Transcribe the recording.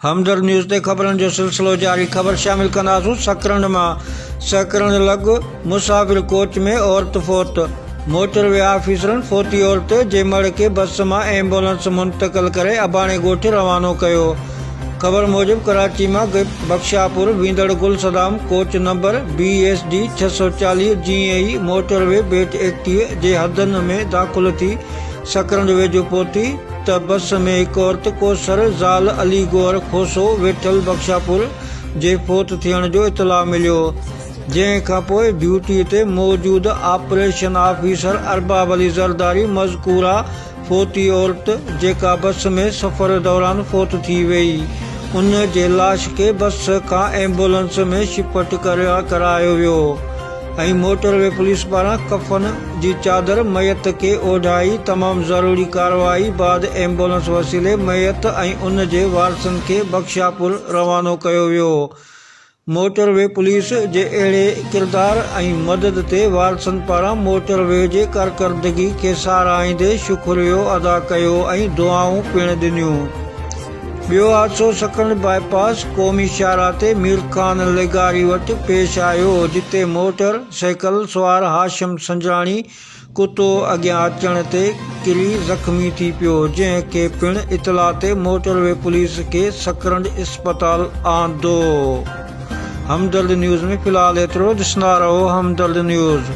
همدرد news تي خبرن جو سلسلو جاري خبر شامل ڪنداسون سڪرنڊ مان سهڪرنڊ لڳ مسافر ڪوچ ۾ عورت فوت موٽر وي آفيسرن فوتي عورت جي مڙهه کي بس مان ايمبولنس منتقل ڪري اباڻي ڳوٺ روانو ڪيو خبر موجب ڪراچي مان بخشاپور ويندڙ Gul Saddam coach number B S D ڇهه سؤ چاليهه جيئن ئي موٽر وي بيٽ ايڪٽيهه جي حدن ۾ داخل ٿي سڪرنڊ ويجهو پهتي ته بس ۾ هڪ عورت ڪوثر زال علي گوهر کوسو ويٺل بخشاپور جي فوت ٿيڻ جو اطلاع مليو جنهن کانپوء ڊيوٽي تي موجود آپريشن آفيسر ارباب علي زرداري مذڪوره فوتي عورت جيڪا بس ۾ سفر دوران فوت ٿي وئي ان جي لاش کي بس کان ايمبولنس ۾ شفٽ ڪرايو ويو. ۽ موٽر وي پوليس پاران ڪفن جي چادر ميت کي اوڍائي تمام ضروري ڪارروائي بعد ايمبولنس وسيلي ميت ۽ ان جي وارثن کي بخشاپور روانو ڪيو ويو موٽر وي پوليس جي اهڙي ڪردار ۽ مدد تي وارثن پاران موٽر وي جي ڪارڪردگي کي ساراهيندي شڪريو ادا ڪيو ۽ دعائون پڻ ڏنيون. ٻيو حادثو سڪنڊ باء پاس قومي شاهراهه تي مير خان لغاري وٽ پيش آيو جتي موٽر سائيڪل سوار هاشم سنجراڻي ڪتو اڳيان اچڻ تي ڪري زخمي ٿي پيو جنهن کي پڻ اطلاع تي موٽر وي پوليس کي سڪرنڊ اسپتال آندو همدرد نيوز ۾ في الحال ايترو ڏسندا رهو همدرد نيوز.